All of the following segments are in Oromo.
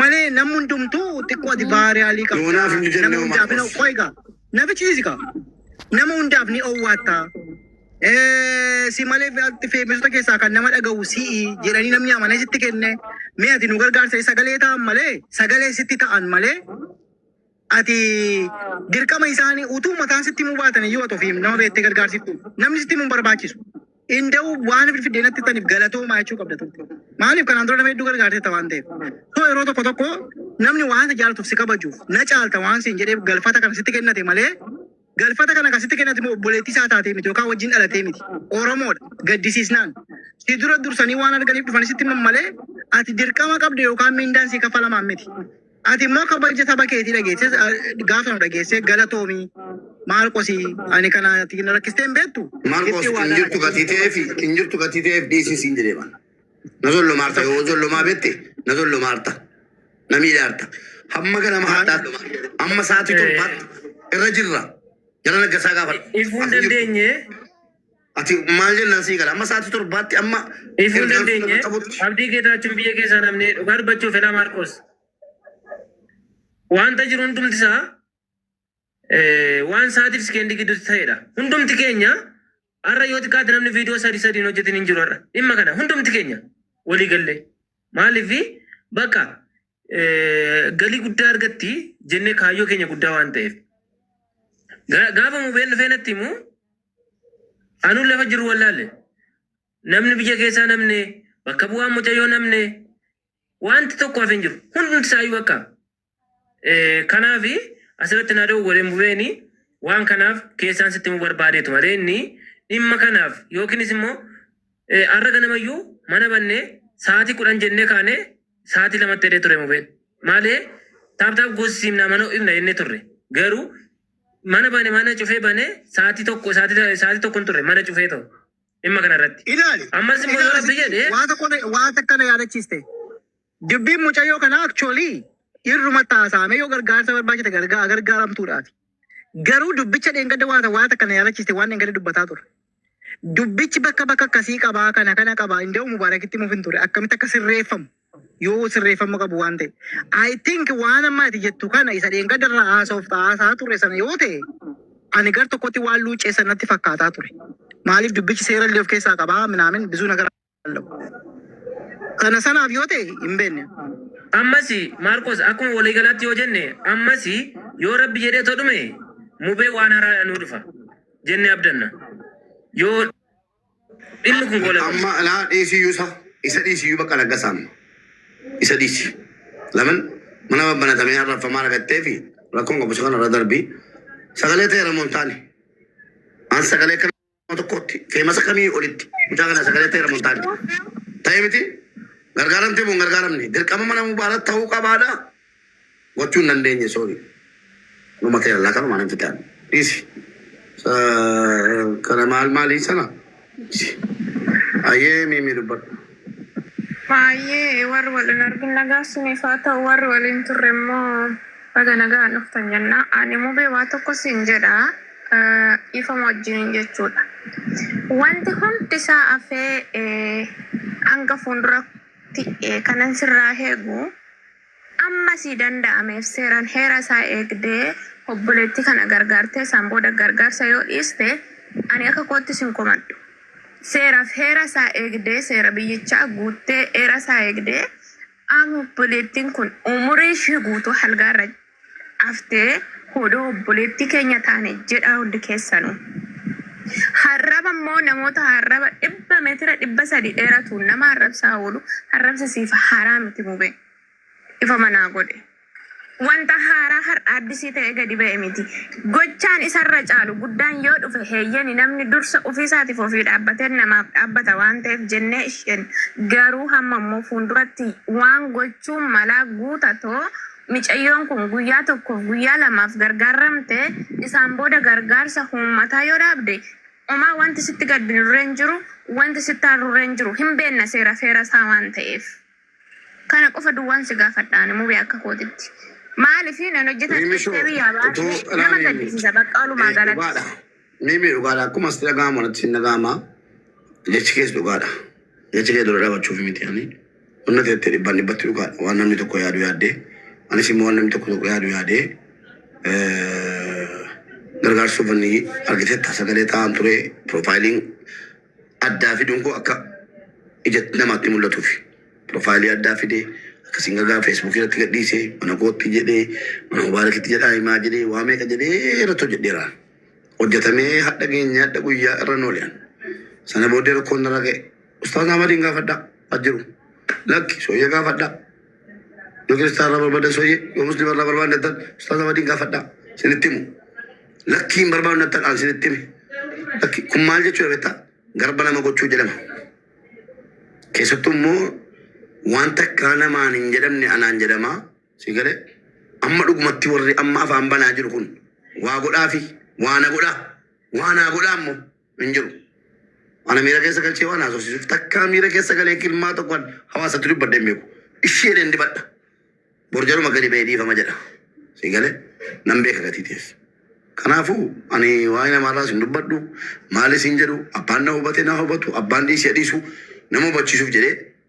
Malee namni hundumtuu xiqqoo ati baariyaalii qabda. Yoonaaf hin jenne Nama homaa hundaaf hin qos. qoy gaa. Na bichiisi gaa. Nama hundaaf ni owwaatta. Eh, Si malee ati feebisota keessaa kan nama dhagahu si'i jedhanii namni amanee sitti kenne. Mee ati nu gargaarsa sagalee ta'an malee sagalee sitti ta'an malee Ati dirqama isaanii utuu mataan sitti himuu baatan iyyuu ati ofiif nama beektee gargaarsiftu. Namni sitti himu hin barbaachisu. Inda'u waan fidfidee natti taniif galatoomaa jechuu qabda turte. Maaliif kanaan dura nama hedduu gargaarteetta waan ta'eef. So yeroo tokko tokko namni waan si jaalatuuf si kabajuuf na caalta waan siin jedheef galfata kana sitti kennate malee Galfata kana kan sitti kennate immoo obboleettii isaa taatee miti yookaan wajjin dhalatee miti. Oromoodha. Gaddisiisnaan. Si dura dursanii waan arganiif dhufanii sitti himan malee ati dirqama qabda yookaan miindaan si kaffalamaan miti. Ati immoo kabaja saba keetii dhageessee gaafa nu dhageessee galatoomi Maarqosi ani kana ati na rakkistee hin beektu. Marcos Ifti waa hin jirtu dalagaa. gatii ta'eef hin jirtu gatii ta'eef dhiisii siin jedhee bana. Na zollomaarta yoo zollomaa beekte na zollomaarta. Na miidhaarta. Hamma kana maadhaadha. Amma sa'aatii torbaatti irra jirra. Jala naggasaa gaafadha. Ifuu hin dandeenye. Ati maal jennaan sii gala. Amma sa'aatii torbaatti amma Ifuu hin dandeenye. Abdii Geetaachuun biyya keessaa namni dhugaa dubbachuuf Elaa Maarqoos. Wanta jiru hundumti isaa Eh, waan sa'aatiif sekendii gidduutti ta'edha. Hundumti keenya har'a yoo xiqqaate namni viidiyoo sadii sadiin hojjetin hin jiru har'a. Dhimma kana hundumti keenya walii gallee. Maaliif bakka eh, galii guddaa argatti jennee kaayyoo keenya guddaa waan ta'eef. Ga- Gaafa mubeen dhufee natti himu anuun lafa jiru wallaalle. Namni biyya keessaa namne bakka bu'aan mucayyoo namne wanti tokko hafe hin jiru. Hundumti isaayyuu bakka Eh, Kanaaf asirratti na dhoowwe hin bu'eeni waan kanaaf keessaan sitti himuu barbaadeetu malee inni dhimma kanaaf yookiinis immoo eh, har'a ganamayyuu mana bannee sa'aatii kudhan jennee kaanee sa'aatii lamatti jedhee ture mubeen maalee taaptaap goosisimnaa mana ho'ifna jennee turre garuu mana bane mana cufee bane sa'aatii tokko sa'aatii sa'aatii tokko hin turre mana cufee ta'u dhimma kanarratti Ilaali. ammas immoo yoo Ilaali. rabbi jedhee Waan tokko waan takka na yaadachiiste. Dubbiin mucayyoo kanaa actually irrumatti haasa'amee yoo gargaarsa barbaachite gargaa gargaaramtuudhaati. Garuu dubbicha dheengadda waata waata kana yaalachiiste waan dheengadda dubbataa ture. Dubbichi bakka bakka akkasii qabaa kana kana qabaa inda'u mubaarakitti himuuf hin ture akkamitti akka sirreeffamu yoo sirreeffama qabu waan ta'e. I think waan amma ati jettu kana isa dheengadda irraa haasa'uuf haasa'aa ture sana yoo ta'e ani gar tokkotti waan luuccee sanatti fakkaataa ture. Maaliif dubbichi seera illee of keessaa qabaa minaamin bizuu nagara Kana sanaaf yoo ta'e hin beekne. Ammas Maarqos akkuma walii galaatti yoo jenne ammas yoo Rabbi jedhee too dhume mubee waan haraadha nuu dhufa jenne abdanna. Yoo dhimmi kun goolabame. Amma laa dhiisiyyuu isa isa dhiisiyyuu bakka laggasaan isa dhiisi. Lamin mana babbanatamee arraffamaa argattee fi rakkoon qabu isa kanarra darbii sagalee ta'eera moontaani. An sagalee kana kuma tokkootti feemasa kamii olitti mucaa kana sagalee ta'eera montaani ta'e miti gargaaramtee moo hin gargaaramne dirqama mana mubaara ta'uu qabaadha gochuu hin dandeenye soori numa ta'e allaa kanuma nan fixaan dhiisi Sa- kana maal maalii sana Dhiisi. ayyee miimii dubbadhu Baay'ee warri wal hin argin nagaa isiniif haa ta'u warri waliin turre immoo baga nagaan dhuftan jenna. Ani mubee waa tokko siin jedha dhiifama wajjiniin jechuudha. Wanti hundi isaa afee hanga fuulduratti kanan sirraa eegu Amma sii danda'ameef seeraan heera isaa eegdee obboleettii kana gargaartee isaan booda gargaarsa yoo dhiiste ani akka kootti sin komadhu. Seeraaf heera isaa eegdee seera biyyichaa guuttee eera isaa eegdee amma obboleettiin kun umurii ishii guutuu halgaa irra Haftee hodoo obboleettii keenya taane jedhaa hundi keessanuu. Harraba immoo namoota harraba dhibba meetira dhibba sadii dheeratuun nama arrabsaa oolu arrabsi siif haaraa miti mubee. Dhifama naa godhi. Wanta haaraa har'a addisii ta'ee gadi ba'e miti. Gochaan isarra caalu guddaan yoo dhufe heeyyeni namni dursa ofiisaatiif ofii dhaabbatee namaaf dhaabbata waan ta'eef jennee isheen garuu hamma immoo fuulduratti waan gochuun malaa guutatoo Micayyoon kun guyyaa tokkoof guyyaa lamaaf gargaarramte isaan booda gargaarsa huummataa yoo dhaabde omaa wanti sitti gaddinurre hin jiru wanti sitti aarrurre hin jiru hin beenna seera feera isaa waan ta'eef kana qofa duwwaan si gaafadha ani mubee akka kootitti maalifi nan hojjeta Riimishoo, jettee biyyaa utuu baate nama ilaaliin gaddisiisa baqqa walumaa eh, galatti. dhugaadha. Mimi dhugaadha akkuma sitti dhaga'amu anatti hin dhaga'ama jechi kees dhugaadha jecha kee dura dhaabachuuf miti ani wanna ati jettee dhibbaan dhibbatti dhugaadha waan namni tokko yaadu yaaddee anis immoo waan namni tokko tokko yaadu yaadee eh, gargaarsuuf inni argiteetta sagalee taa'an ture piroofaayiliin addaa fiduun koo akka ija namaatti mul'atuuf piroofaayilii addaa fidee akkasiin gagaa feesbuukii irratti gadhiisee mana kootti jedhee mana mubaarakitti jedhaa himaa jedhee waa meeqa jedhee irratti hojjedheera. Hojjetamee hadha geenye hadha guyyaa irra noolean. Sana booddee rakkoon narra ga'e. Ustaaz Ahmadiin gaafadhaa as jiru. Lakki sooyyee gaafadhaa. Yoo kiristaana irraa barbaadan sooyyee, yoo muslima irraa barbaadan nattan ustaaza waliin gaafadhaa sinitti himu. Lakkii hin barbaadu nattan aan sinitti hime. Lakkii kun maal jechuudha beektaa? Garba nama gochuu jedhama. Keessattuu immoo waan takkaa namaan hin jedhamne anaan jedhama. Si galee amma dhugumatti warri amma afaan banaa jiru kun waa godhaafi waa na godhaa waa naa godhaa immoo. hin jiru. Ana miira keessa galchee waan haasofsiisuuf takkaa miira keessa galee kilmaa tokkoon hawaasatti dubbadde hin beeku. Ishee jedheen dibadha. Borjaruma gadi ba'ee dhiifama jedha. Sii galee nan beeka gatii ta'es. Kanaafuu ani waa'ee namaarraas hin dubbadhu maalis hin jedhu abbaan na hubate na hubatu abbaan dhiisee dhiisu nama hubachiisuuf jedhee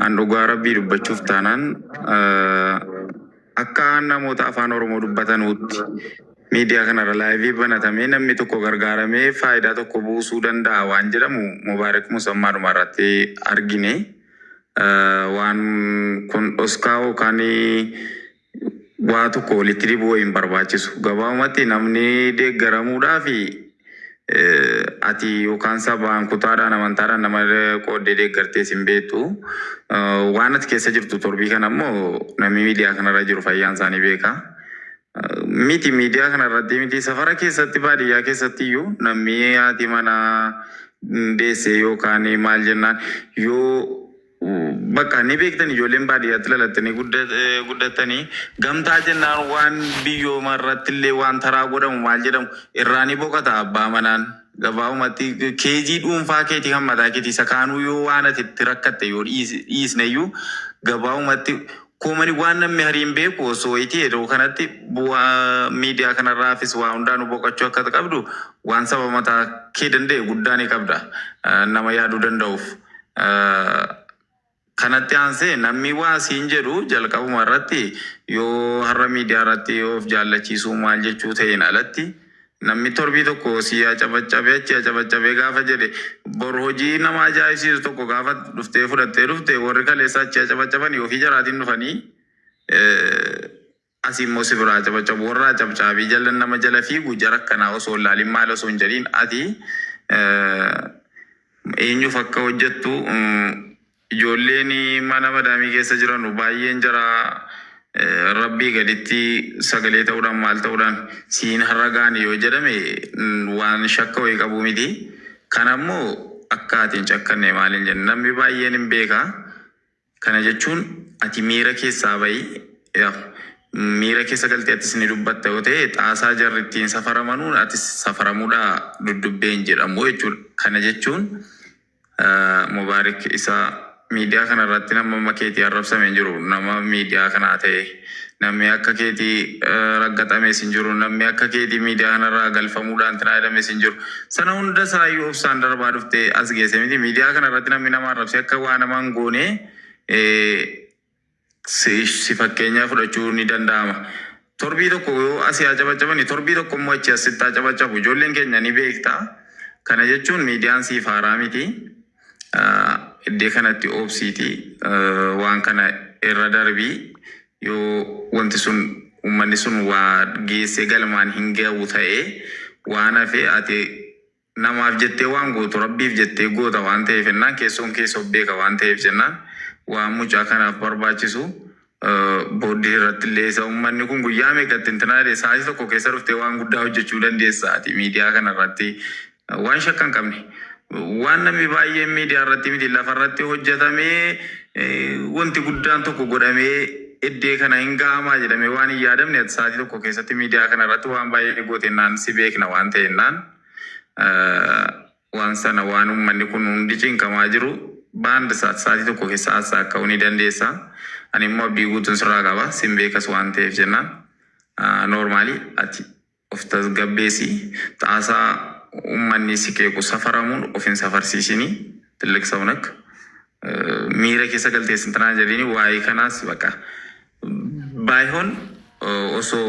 An dhugaa rabbii dubbachuuf taanaan akka namoota afaan oromoo dubbatanuutti miidiyaa kanarra laayivii banatamee namni tokko gargaaramee faayidaa tokko buusuu danda'a waan jedhamu mubaarik musammaadhuma irratti argine waan kun dhoskaa yookaan waa tokko walitti dibuu wayi hin barbaachisu. Gabaabumatti namni deeggaramuudhaaf eh, ati yookaan sabaan, kutaadhaan, amantaadhaan nama qooddee deeggartees hin beektu. Eh, Waan ati keessa jirtu torbii kana immoo namni miidiyaa kanarra jiru fayyaan isaanii beeka. Eh, Miti miidiyaa kanarratti miti safara keessatti baadiyyaa keessatti iyyuu namni haati manaa deessee yookaan maal jennaan yoo Bakka ni beektan ijoolleen baadiyyaatti lalattanii guddattanii gamtaa jennaan waan biyyooma irrattillee waan taraa godhamu maal jedhamu irraa ni boqata abbaa manaan gabaabumatti keejii dhuunfaa keetii kan mataa keetii isa kaanuu yoo waan ati itti rakkatte yoo dhiisneyyuu gabaabumatti Koomani waan nammi hari hin beeku osso iti yeroo kanatti bu'a media kanarraafis waa hundaanu boqachuu akka ati qabdu waan saba mata kee danda'e guddaa ni qabda nama yaadu danda'uf kanatti aanse nammi waa siin jedhu jalqabuma irratti yoo harra media irratti of jaallachiisuu maal jechuu ta'een alatti Namni torbii tokko sii acabacabe achi acabacabe gaafa jedhe bor hojii nama ajaa'ibsiisu tokko gaafa dhuftee fudhattee dhufte warri kaleessa achi acabacabani ofii jaraatiin dhufanii asi immoo si biraa acabacabu warra acabcaabii jala nama jala fiigu jara akkanaa osoo hin laalin maal osoo hin jedhiin ati eenyuuf akka hojjettu Ijoolleen mana madaamii keessa jiranu baay'een jaraa rabbii gaditti sagalee ta'uudhaan maal ta'uudhaan si hin harragaani yoo jedhame waan shakka wayii qabu miti. Kana immoo akka ati hin cakkanne maaliin jenna namni baay'een hin beeka. Kana jechuun ati miira keessaa ba'i. Yaw miira keessa galtee atis ni dubbatta yoo ta'e xaasaa jarri ittiin safaramanuun atis safaramuudha duddubbee hin jedhamu jechuudha. Kana jechuun Mubaarik isa miidiyaa kana irratti nama amma keetii arrabsame hin jiru. Nama miidiyaa kanaa ta'e namni akka keetii eh, raggaxames hin jiru. Namni akka keetii miidiyaa kanarraa galfamuudhaan tinaa jedhames hin jiru. Sana hunda isaayyuu obsaan darbaa dhuftee as geesse miti. Miidiyaa kana irratti namni nama arrabse akka waa nama hin goone eh, Sish si fakkeenyaa fudhachuu ni danda'ama. Torbii tokko yoo asii haa cabacabani torbii tokko immoo achii as sitti haa cabacabu. Ijoolleen keenya ni beekta. Kana jechuun miidiyaan siif haaraa miti. Iddee kanatti obsiiti waan kana irra darbii yoo wanti sun uummanni sun waa geessee galmaan hin ga'u ta'ee waan hafee ati Namaaf jettee waan gootu Rabbiif jettee goota waan ta'eef jennaan keessoon kee si of beeka waan ta'eef jennaan waan mucaa kanaaf barbaachisu booddee irratti illee isa ummanni kun guyyaa meeqa itti intinaa jedhe sa'aatii tokko keessa dhuftee waan guddaa hojjechuu dandeessa ati miidiyaa kana irratti waan shakka hin qabne waan namni baay'een miidiyaa irratti miti lafa irratti hojjetamee wanti guddaan tokko godhamee iddee kana hin ga'amaa jedhamee waan hin yaadamne ati sa'aatii tokko keessatti miidiyaa kana irratti waan baay'ee gootennaan si beekna waan ta'ennaan waan sana waan ummanni kun hundi cinqamaa jiru baand saatii tokko keessa haasaa ka'uu ni dandeessa. Ani immoo abdii guutuun sirraa qaba sin beekas waan ta'eef jennaan noormaali ati of tasgabbeessi xaasaa ummanni si qeequ safaramuun of hin safarsiisini tilliq sawunak miira keessa galtee sintanaa jedhini waa'ee kanaas baqa baay'oon osoo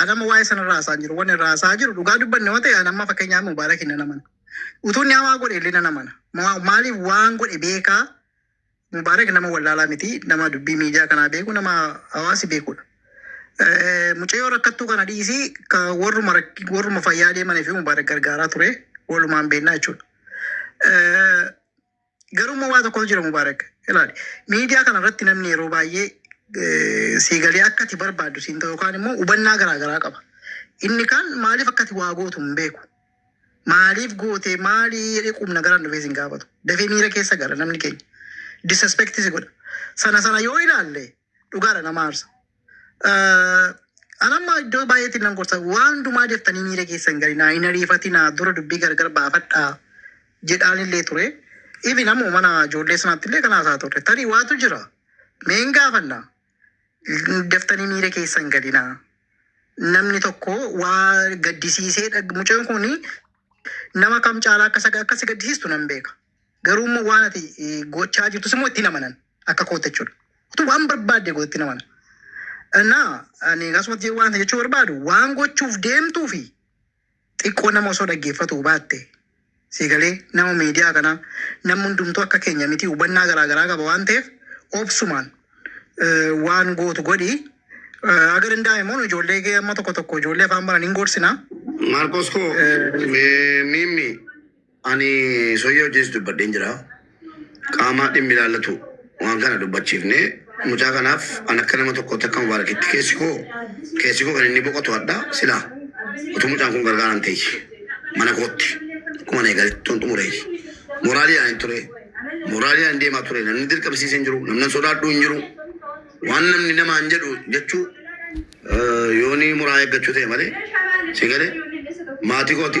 Ani amma waa'ee sana irraa haasa'aa hin jiru. Wanni irraa haasa'aa jiru dhugaa dubbanne yoo ta'e ani amma fakkeenyaaf Mubaarak hin namana. Utuu inni hamaa godhe illee namana. Ma- Maaliif waan godhe beekaa Mubaarak nama wallaalaa miti. Nama dubbii miidiyaa kanaa beeku nama hawaasi beekudha. Eh, Mucayyoo rakkattuu kana dhiisii ka warruma rak- warruma fayyaa deemanii fi Mubaarak gargaaraa ture walumaan beeknaa jechuudha. Eh, Garuu immoo waa tokkotu jira Mubaarak. Ilaali. Miidiyaa kana irratti namni yeroo baay'ee eh, sii galee akka ati barbaaddu siin ta'u yookaan immoo hubannaa garaa garaa qaba. Inni kaan maaliif akka ati waa gootu hin beeku. Maaliif gootee maalii jedhee qubna garaan dhufee siin gaafatu. Dafee miira keessa gala namni keenya. Disrespect si godha. Sana sana yoo ilaalle dhugaadha nama aarsa. Eh, An amma iddoo baay'eetti nan gorsa waan hundumaa deeftanii miira keessan gadi naa hin ariifatinaa dura dubbii gargar baafadhaa jedhaan illee ture. Even ammoo mana ijoollee sanaatti illee kana haasaa turre. Tarii waatu jira. Mee hin gaafanna. Deeftanii miira keessan gadi naa. Namni tokko waa gaddisiisee dhag- mucaan kun nama kam caalaa akka isa- akka si gaddisiistu nan beeka. Garuu immoo waan ati eh, gochaa jirtus immoo itti hin amanan akka kootti jechuudha. Utuu waan barbaadde goote itti hin amanan. Innaa ani akkasumatti waan jechuu barbaadu waan gochuuf deemtuu fi xiqqoo nama osoo dhaggeeffatu baatte sii galee nama miidiyaa kanaa namni hundumtuu akka keenya miti hubannaa garaa garaa qaba waan ta'eef obsumaan eh, waan gootu godhi. Eh, Aga danda'ame immoo nu ijoollee kee amma tokko tokko ijoollee afaan baran hin gorsinaa. Maarqos koo Eh. mee miimmi Ani soyyee wajjinis dubbadheen jira. Qaama dhimmi ilaallatu waan kana dubbachiifnee mucaa kanaaf an akka nama tokkootti akka mubaarakitti keessi koo keessi koo kan inni boqotu hadha sila utuu mucaan kun gargaaraan ta'e mana kootti akkuma na eegalettuun xumure moraaliidhaan hin ture moraaliidhaan hin deemaa ture namni dirqamsiisee hin jiru namni sodaadhuu hin jiru waan namni namaa hin jedhu jechuu eh, yoonii muraa eeggachuu ta'e malee si galee maatii kooti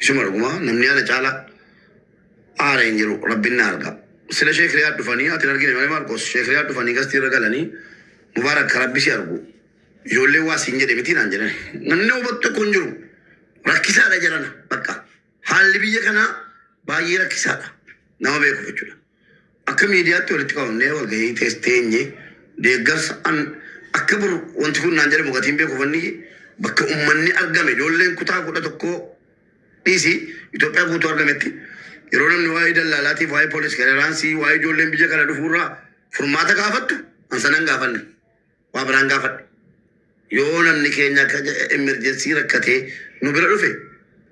Isuma dhuguma namni ana caala aare hin jiru rabbin na arga sila sheek riyaad dhufani ati hin argine male marqos sheek riyaad dhufani gasti irra galani mubarak ka rabbi si argu ijoollee waa siin jedhe miti naan jedhan namni nama hubatu tokko hin jiru rakkisaadha jarana bakka haalli biyya kanaa baay'ee rakkisaadha nama beeku jechuudha. Akka miidiyaatti walitti qabamnee walgahii keessa teenye deeggarsa an akka bor wanti kun naan jedhamu gatii hin beeku ufanni bakka ummanni argame ijoolleen kutaa 11 dhiisi Itoophiyaa guutuu argametti yeroo namni waa'ee dallaalaatiif waa'ee police clearance waa'ee ijoolleen biyya kana dhufuu irraa furmaata gaafattu an sana hin gaafanne waa biraan gaafadhe yoo namni keenya akka emerjensii rakkatee nu bira dhufe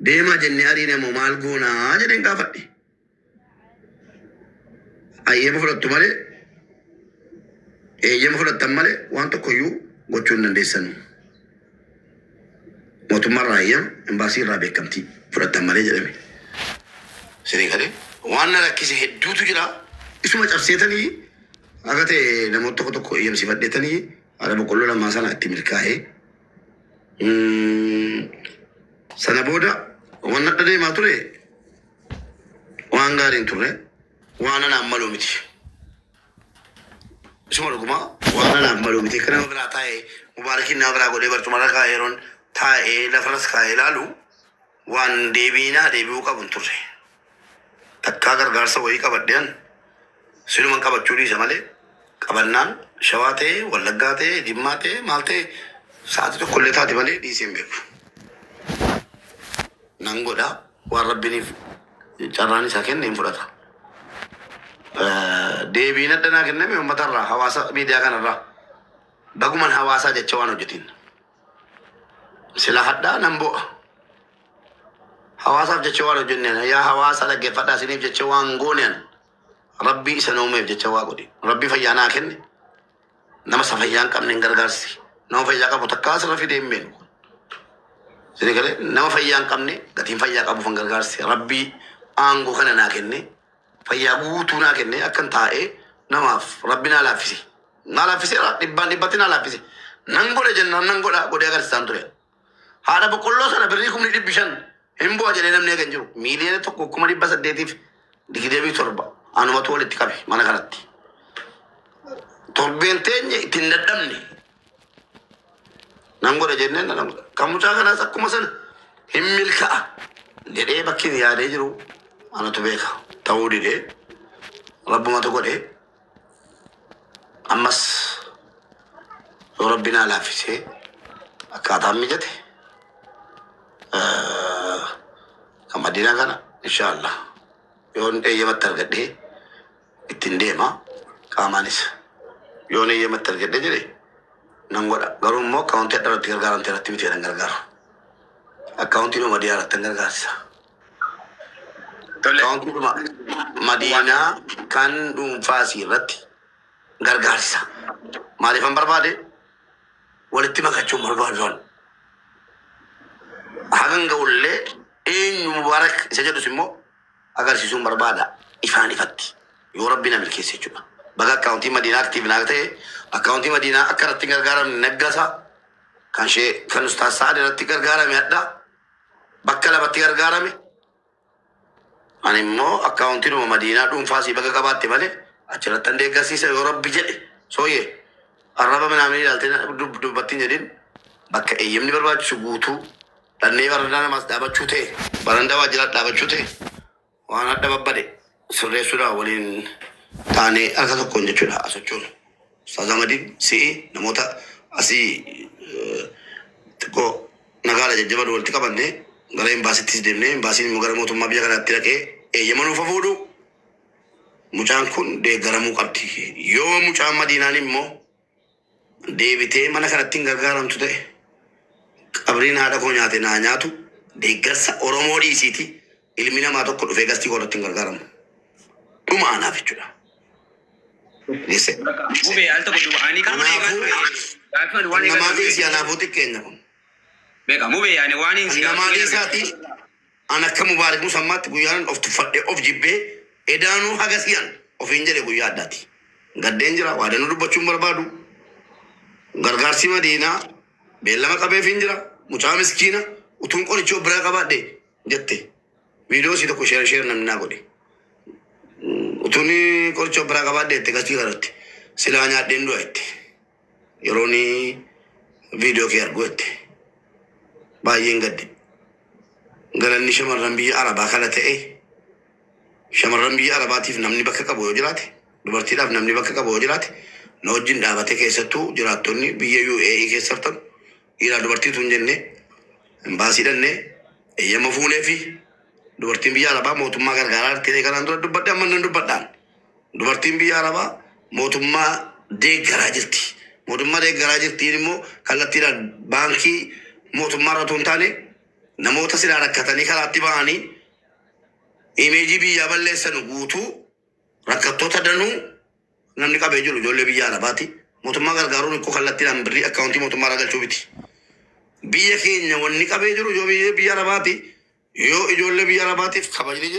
deemaa jennee ariine moo maal goonaa jedheen gaafadhe. Ayyeema fudhattu malee eeyyama fudhattan malee waan tokkoyyuu gochuu hin dandeessanu. Mootummaa irraa eeyyama, imbaasii irraa beekamtii fudhattan malee jedhame. Sirii galee waan na rakkise hedduutu jira. Isuma cabseetanii akka ta'e namoota tokko tokko eeyyamsiifadheetanii haadha boqqolloo lamaa sana itti milkaa'ee. Mm, Sana booda waan nadha deemaa ture Waan gaarii hin turre. Waan anaaf maluu miti. Isuma dhuguma waan anaaf maluu miti. Akka nama biraa taa'ee mubaarakiin nama biraa godhee barcumarra kaa'ee yeroon taa'ee lafarras kaa'ee ilaalu waan deebiinaa deebi'uu qabu hin turre. Takkaa gargaarsa wayii qabadheen Siluman qabachuu dhiisa malee qabannaan shawaa ta'e, wallaggaa ta'e, jimmaa ta'e, maal ta'e sa'aatii tokko illee taati malee dhiisee hin beeku. Nan godha waan rabbiniif carraan isaa kenne hin fudhata. Eh, Deebiin addanaa kenname uummatarraa hawaasa miidiyaa kanarraa baguman hawaasaa jecha waan hojjetiin. Sila hadhaa nan bo'a. Hawaasaaf jecha waan hojjenneen yaa hawaasa dhaggeeffadhaa isiniif jecha waan gooneen rabbii isa nuumeef jecha waa godhi. Rabbii fayyaa naa kenne nama isa fayyaa hin qabne hin gargaarsi. Nama fayyaa qabu takkaa asirra fidee hin beenu. Sini galee nama fayyaa hin qabne gatiin fayyaa qabuuf hin gargaarsi. Rabbii aangoo kana naa kenne Fayyaa guutuu naa kennee akkan taa'ee namaaf rabbi naa laaffise. Naa laaffiseera dhibbaan dhibbatti naa laaffise. Nan godhe jennaan nan godha godhee agarsisaan ture. Haadha boqqolloo sana birrii kumni dhibbi shan hin bu'a jedhee namni eege hin jiru. Miiliyoona tokko kuma dhibba saddeetiif digdamii torba anumatu walitti qabe mana kanatti. Torbeen teenye itti hin dadhabne. Nan godha jenneen nan godha. Kan mucaa kanaas akkuma sana hin milka'a jedhee bakki hin yaadee jiru anatu beeka. Ta'uu didee rabbumatu godhee ammas yoo rabbi naa laaffisee akkaataan mijate kan madiinaa kana inshaallah yoon eeyyamatti argadhee ittiin deema qaamaanis yoon eeyyamatti argadhe jedhe nan godha garuu immoo akkaawuntii adda irratti gargaaramte irratti miti jedhan gargaaru akkaawuntii dhuma diyaa irratti gargaarsa akkaawuntii dhuma madiinaa kan dhuunfaasii irratti gargaarsa maaliifan barbaade walitti makachuun barbaaduun hagan ga'ullee eenyu mubaarak isa jedhus immoo agarsisuun barbaada ifaan ifatti yoo rabbi na milkeesse jechudha baga account madiinaa active naa ta'e account madiinaa akka irratti hin gargaaramne naggasa kan shee kan ustaas sa'ad irratti gargaarame hadha bakka lamatti gargaarame ani immoo account numa madiinaa dhuunfaa sii baga qabaatte malee achirratti an deeggarsiisa yoo rabbi jedhe sooyee arraba minaamni ilaaltee dubbattiin jedhin bakka eeyyamni barbaachisu guutuu Dhallee barandaa namaas dhaabachuu tee barandaa waajjiraat dhaabachuu tee waan hadha babbade sirreessuudha waliin taanee harka tokkoon jechuudha haa sochoonu. Ustaaz Ahmadiin si'i namoota asii eh, xiqqoo nagaadha jajjabaadha walitti qabannee gara imbaasittis deemnee imbaasiin immoo gara mootummaa biyya kanaatti dhaqee eeyyama nuuf haa fuudhu mucaan kun deeggaramuu qabdi. Yoo mucaan madiinaan immoo deebitee mala kanatti hin gargaaramtu ta'e qabriin haadha koo nyaate naa nyaatu deeggarsa Oromoo dhiisiiti ilmi namaa tokko dhufee gastii koo irratti hin gargaaramu. Dhuma anaaf jechuudha. Gisse. Mubee al tokko du'aanii kan Kanaafuu Gaaffiin waan namaa dhiisi anaafuu xiqqeenya kun. Beeka mubee yaani waan hin Kan namaa dhiisaati An akka Mubaarik Musammaatti guyyaanan of tuffadhe, of jibbee, edaanuu hagasii an ofiin jedhe guyyaa addaati. Gaddeen jira, waadannoo dubbachuu hin barbaadu. Gargaarsi Madiinaa beellama qabeefiin jira. Mucaa miskiina utuun qoricha of biraa qabaadhe jette. Viidiyoo isii tokko sheer sheer namni naa godhe. Utuun qoricha of biraa qabaadhe jette gachii irratti silaa nyaadheen du'a jette. yeroon viidiyoo kee arguu jette baay'een gadde galanni shamarran biyya arabaa kana ta'e shamarran biyya arabaatiif namni bakka qabu yoo jiraate dubartiidhaaf namni bakka qabu yoo jiraate na wajjin dhaabate keessattuu jiraattonni biyya UAE keessa jirtan dhiiraa dubartiitu hin jenne imbaasii dhannee eeyyama fuunee fi dubartiin biyya arabaa mootummaa gargaaraa jirti kanaan dura dubbadhe amma nan dubbadhaan Dubartiin biyya Arabaa mootummaa deeggaraa jirti. Mootummaa deeggaraa jirtiin immoo kallattiidhaan baankii mootummaa irra otoo hin taane namoota silaa rakkatanii karaatti ba'anii imeejii biyyaa balleessanu guutuu rakkattoota danuu namni qabee jiru ijoollee biyya Arabaati. Mootummaa gargaaruun ikkoo kallattiidhaan birrii akkaawuntii mootummaa irraa galchuu miti. Biyya keenya wanni qabee jiru ijoollee biyya Arabaati. Yoo ijoollee biyya Arabaatiif kabajni jira.